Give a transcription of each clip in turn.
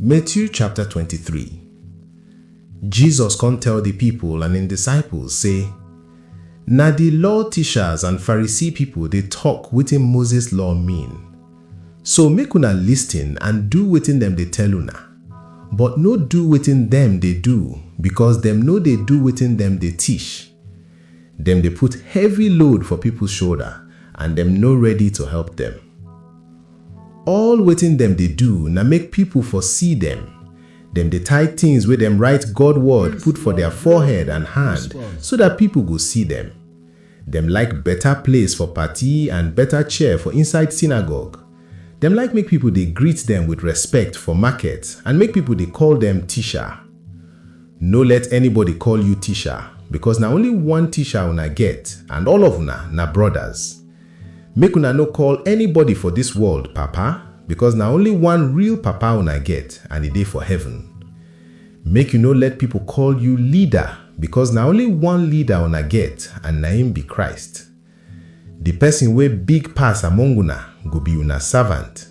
Matthew chapter 23 Jesus come tell the people and im disciples say, Na the law teachers and Pharisee people dey talk wetin Moses law mean. So make una listen and do wetin dem dey tell una, but no do wetin dem dey do because dem no dey do wetin dem dey teach. Dem dey put heavy load for people shoulder and dem no ready to help dem. All wetin dem dey do na make pipol for see dem. Dem dey tie tins wey dem rite God word put for dia forehead and hand so dat pipol go see dem. Dem like beta place for party and beta chair for inside sinagog. Dem like make pipol dey greet dem with respect for market and make pipol dey call dem Tisha. No let anybody call yu Tisha, bikos na only one Tisha una get and all of una na brodas. Make una no call anybody for dis world Papa, because na only one real Papa una get and e dey for heaven. Make you no let people call you Leader, because na only one Leader una get and na im be Christ. The person wey big pass among una go be una servant.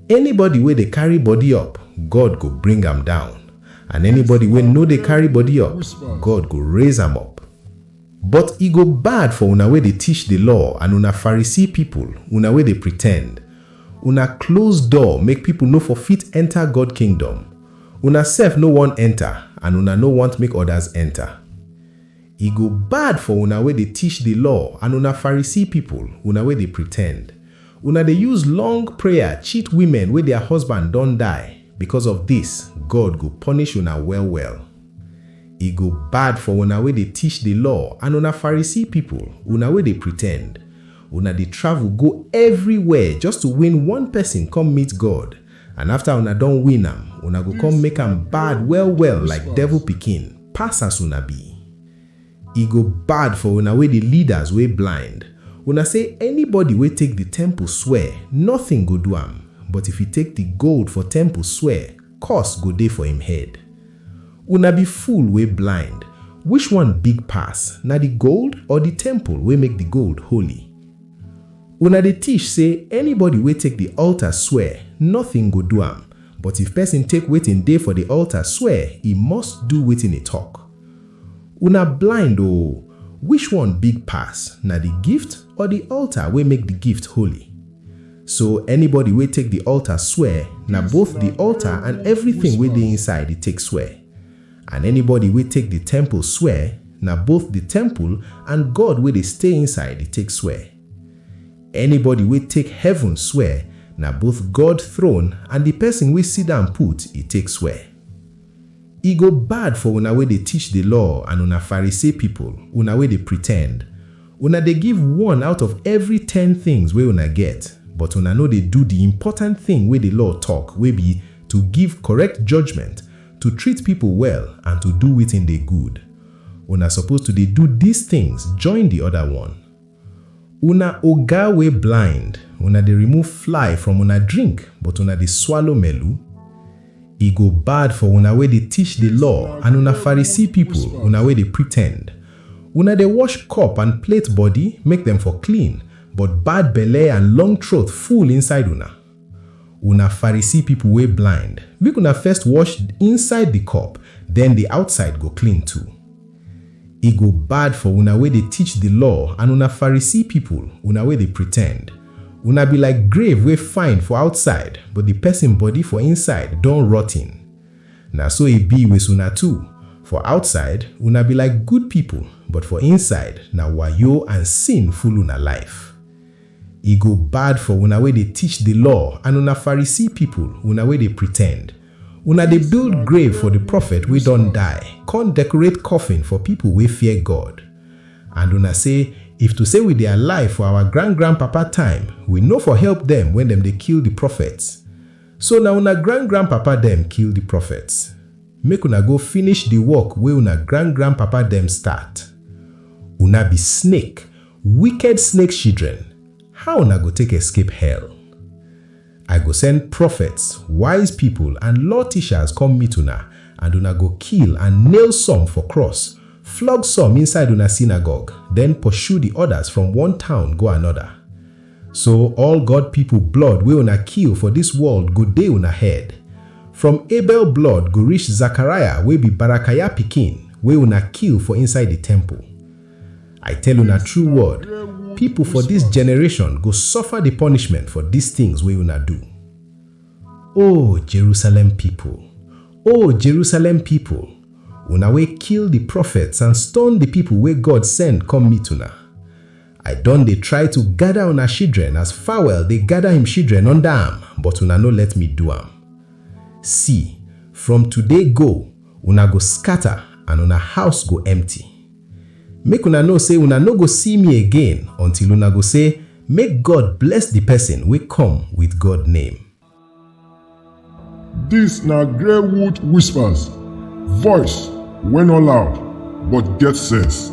Anybody wey dey carry body up, God go bring am down, and anybody wey no dey carry body up, God go raise am up. But e go bad for una wey dey tish di law and una Farisee pipol, una wey dey pretend! Una klose door make pipol no for fit enta God kingdom. Una sef no won enta and una no want make odas enta. E go bad for una wey dey tish di law and una Farisee pipol, una wey dey pretend! Una dey use long prayer cheat wimen wey dia husband don die, bikos of dis, God go ponish una well-well. E go bad for una wey dey tish di law and una Pharisee pipol, una wey dey pritend! Una dey travel go evriwhere just to win one pesin kom meet God, and afta una don win am, una go kon make am bad well-well like devil pikin, pass as una bi. E go bad for una wey di leaders wey blind! Una sey anybody wey take di temple swear, notin go do am, but if e take di gold for temple swear, Curse go dey for im head. Una be fool wey blind, which one big pass, na di gold or di temple wey make di gold holy? Una dey tish sey anybody wey take di altar swear, nothing go do am, but if pesin take wetin dey for di altar swear e must do wetin e tok. Una blind oo, which one big pass, na di gift or di altar wey make di gift holy? So anybody wey take the altar swear, na Yes, both the Lord, altar Lord, and Lord, everything yes, wey dey Lord. inside e take swear. And anybody wey take the temple swear, na both the temple and God wey dey stay inside e take swear. Anybody wey take heaven swear, na both God throne and the person wey sit down put e take swear. E go bad for una wey dey teach di law and una Pharisee pipol, una wey dey pretend! Una dey give one out of evry ten tins wey una get, but una no dey do di important tin wey di law tok, wey bi, to give korrekt judgment, to treat pipol well and to do wetin dey good. Una suppose to dey do dis tins join di oda one. Una oga wey blind, una dey remove fly from una drink but una dey swallow melu? E go bad for una wey dey teach di law and una Pharisee pipol, una wey dey pretend! Una dey wash cup and plate body make dem for clean, but bad belle and long throat full inside una. Una Pharisee pipo wey blind, make una first wash inside di cup, den di outside go clean too. E go bad for una wey dey teach di law and una Pharisee pipo, una wey dey pretend! Una be like grave wey fine for outside but di pesin body for inside don rotten. Na so e be with una too, for outside una be like good pipo but for inside na wayo and sin full una life. E go bad for una wey dey teach di law and una Pharisee pipol, una wey dey pretend! Una dey build grave for di profet wey don die, kon dekorate coffin for pipol wey fear God. And una sey, If to sey we dey alive for awa grand-grand-papa time, we no for help dem wen dem dey kill di profets. So na una grand-grand-papa dem kill di profets. Make una go finish di work wey una grand-grand-papa dem start. Una be snake! Wicked snake shidren, how una go take escape hell? I go send profets, wise pipol and law tishas kom meet una and una go kill and nail some for kross, flog some inside una sinagog, den poshu di odas from one town go anoda. So all God pipol blood wey una kill for dis world go dey una head. From Abel blood go rish Zakariah wey bi Barakaya pikin wey una kill for inside di temple. I tell una true word, people for this generation go suffer the punishment for these things wey una do. O Jerusalem people, O Jerusalem people, una wey kill the prophets and stone the people wey God send come meet una. I don dey try to gather una children as fowl dey gather him children under am, but una no let me do am. See, from today go, una go scatter and una house go empty. Make una know sey una no go see me again until una go sey, Make God bless di pesin wey come wit God name. Dis na Greywood Whispers, voice wey no loud but get sense.